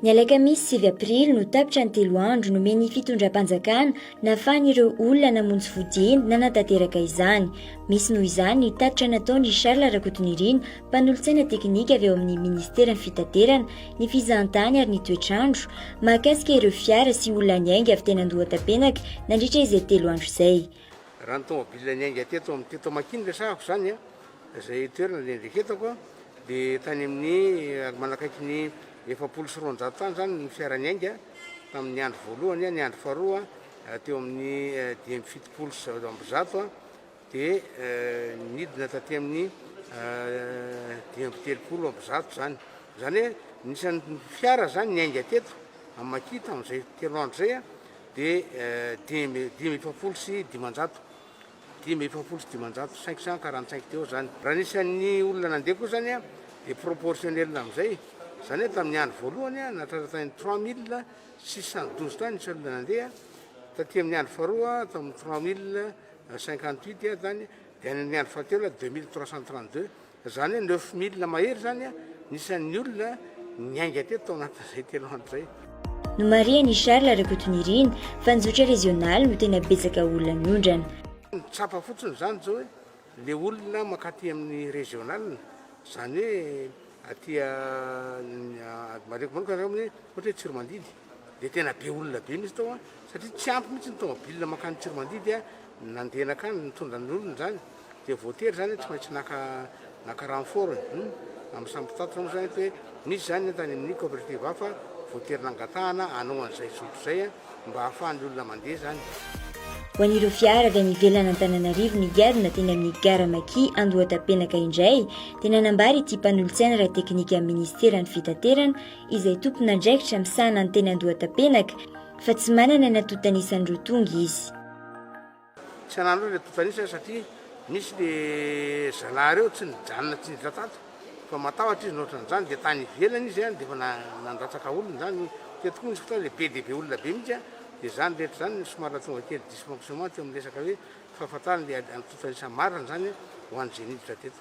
Ny alakamisy sivy aprily no tapitra ny telo andro nomen'ny fitondram-panjakana nafahan'ireo olona namonjy fodiany nanatanteraka izany. Misy noho izany ny tatitra nataon'i Charles Rakotonirina, mpanolotsaina teknika avy ao amin'ny ministeran'ny fitaterana, ny fizahantany ary ny toetr'andro, mahakasika ireo fiara sy olona niainga avy teny Andohatapenaka nandritra izay telo andro izay. Raha ny tomobile niainga teto amin'ny teto Makin no resahako izany, izay toerana niendreketako, dia tany amin'ny manakaiky ny efapolo sy roanjato tany izany ny fiara niainga tamin'ny andro voalohany, ny andro faharoa teo amin'ny dimy amby fitopolo sy zato, dia nidina taty amin'ny dimy amby telopolo amby zato izany. Izany hoe nisan'ny fiara izany niainga teto amin'ny Maki tamin'izay telo andro izay a, dia dimy dimy efapolo sy dimanjato dimy efapolo sy dimanjato cinq cent quarante cinq teo izany. Raha ny isan'ny olona nandeha koa izany a, dia proportionnel amin'izay. Izany hoe tamin'ny andro voalohany a, nahatratra tany trois mille six cent douze tany ny isan'ny olona nandeha, taty amin'ny andro faharoa tamin'ny trois mille cinquante huit dia zany dia ny andro fahatelo dia deux mille trois cent trente deux zany hoe neuf mille mahery zany ny isan'ny olona niainga teto tao anatin'izay telo andro zay. Nomarihan'i Charles Rakotonirina fa ny zotra rezionaly no tena betsaka olona niondrana. Tsapa fotsiny izany izao hoe le olona mankaty amin'ny rezionaly izany hoe aty mareko manokana izany hoe ohatra hoe Tsiromandidy. dia tena be olona be mihitsy tao an, satria tsy ampy mihitsy ny tomobilina mankany Tsiromandidy an, nandeha nankany nitondra ny olony izany dia voatery izany tsy maintsy naka naka renfort ny hum amin'ny samy mpitatitra moa izany eto hoe misy izany an tany amin'ny cooperative hafa voatery nangatahana hanao an'izay zoto izay an mba hahafahan'ny olona mandeha izany. Ho an'ireo fiara avy any ivelan'Antananarivo nigadona teny amin'ny Gara Maki Andohatapenaka indray dia nanambara ity mpanolotsaina ara-teknika amin'ny Ministeran'ny Fitaterana izay tompon'andraikitra misahana ny teny Andohatapenaka fa tsy manana ny antontanisany roa tonga izy. Tsy hanana aloha ny antontanisany satria nisy le zalahy reo tsy nijanona tsy niditra tato fa matahotra izy nohatra an'izany dia tany ivelany izy an dia efa nandatsaka olona izany teto koa nisy fotoana le be dia be olona be mihitsy an dia izany rehetra izany no somary nahatonga kely dysfonctionnement teo amin'ny resaka hoe fahafantarana le antontanisa marina izany ho an'izay niditra teto.